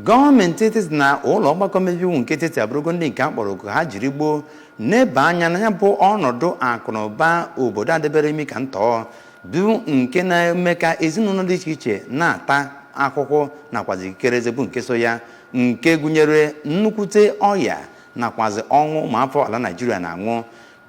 Gọọmenti etiti na ụlọ ọgbakọ mmebe iwu nke etiti abụrụgo ndị nke a kpọrọ oku ha jiri gboo neba anya na ya bụ ọnọdụ akụ na ụba obodo adebere imi ka ntọọ bụ nke na-eme ka ezinụlọ dị iche iche na-ata ahụhụ nakwazi ikikere eze bụ nke so ya nke gụnyere nnukwute ọya nakwazi ọnwụ ụmụafọ ala naijiria na-anwụ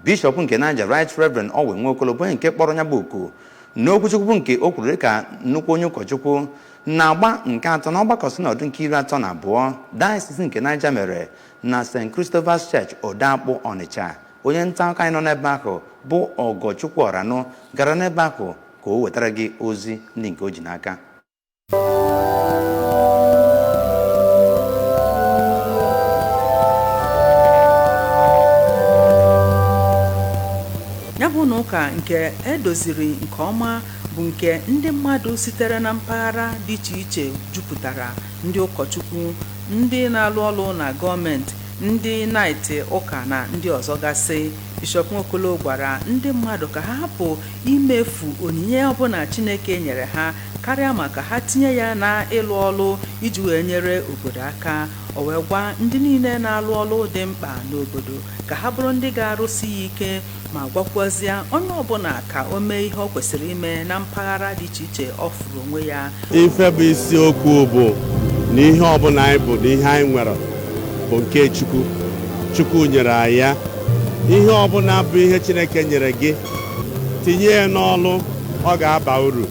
Bishọp nke Niger Right Reverend Owen Nwokolo bụ onye nke kpọrọ ya bụ oku n'okwuchukwu bụ nke o kwuru dịka nnukwu onye ụkọchukwu n'agba nke atọ na ọgbakọ sinọdụ nke iri atọ na abụọ diocese nke Niger mere na St. Christopher's Church Odoakpụ Ọnịcha onye nta akụkọ anyị nọ n'ebe ahụ bụ Ọgọchukwu Ọranụ gara n'ebe ahụ ka o wetara gị ozi ndị nke o ji n'aka ya bụ ụnọ ụka nke e doziri nke ọma bụ nke ndị mmadụ sitere na mpaghara dị iche iche jupụtara ndị ụkọchukwu ndị na-alụ ọrụ na gọọmenti ndị naịtị ụka na ndị ọzọ gasị bishọp nwokolo gwara ndị mmadụ ka ha hapụ imefu onyinye ọbụla chineke nyere ha karịa ma ka ha tinye ya na ịlụ ọlụ iji wee nyere obodo aka o wee gwa ndị niile na-alụ ọlụ dị mkpa n'obodo ka ha bụrụ ndị ga-arụsi ya ike ma gwakwuazịa onye ọbụla ka o mee ihe o kwesịrị ime na mpaghara dị iche iche ọ fụrụ onwe ya ife bụ isiokwu bụ na ihe ọbụla anyị bụ na ihe anyị nwere bụ nke chukwu chukwu nyere anyị ya ihe ọbụla bụ ihe chineke nyere gị tinye ya n'ọlụ ọ ga-aba uru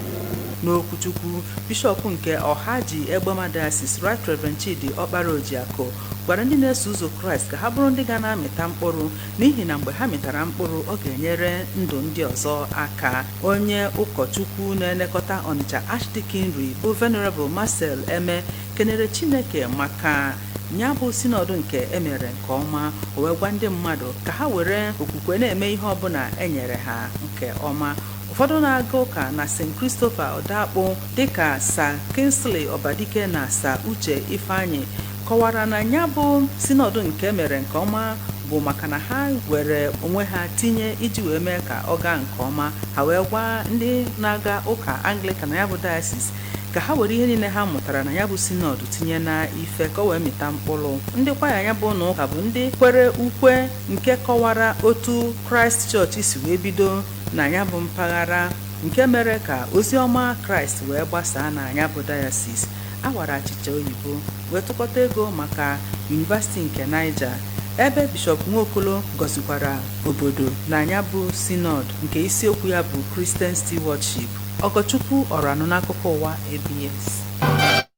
N'okwuchukwu, Bishọp nke Ọhaji Egbema Diocese, Right Reverend Chidi Ọkpara Ojiakụ, gwara ndị na-eso ụzọ Kraịst ka ha bụrụ ndị ga na-amịta mkpụrụ n'ihi na mgbe ha mịtara mkpụrụ ọ ga-enyere ndụ ndị ọzọ aka. Onye ụkọchukwu na-elekọta Ọnịcha Archdeaconry bụ Venerable Marcel Eme kenere Chineke maka ya bụ sinọdụ nke e mere nke ọma o wee gwa ndị mmadụ ka ha were okwukwe na-eme ihe ọbụla e nyere ha nke ọma ụfọdụ na-aga ụka na st christopher odoakpụ dịka sa kingsley ọbadike na sa uche ifeanyị kọwara na ya bụ sinọdụ nke e mere nke ọma bụ maka na ha were onwe ha tinye iji wee mee ka ọ gaa nke ọma ha wee gwa ndị na-aga ụka anglikan na ya bụ diocese ka ha were ihe niile ha mụtara na ya bụ sinọdụ tinye na ife ka o wee mịta mkpụrụ ndị kwaya ya bụ ụnọ ụka bụ ndị kwere ukwe nke kọwara otu kraịst chọọchị si wee bido na ya bụ mpaghara nke mere ka ozi ọma kraịst wee gbasaa na ya bụ diocese a wara achịcha oyibo wee tụkọta ego maka University nke Niger ebe Bishọp Nwokolo gọzikwara obodo na ya bụ Synod nke isiokwu ya bụ Christian Stewardship. Ọgọchukwu Ọranụ n'Akụkọ Ụwa ABS.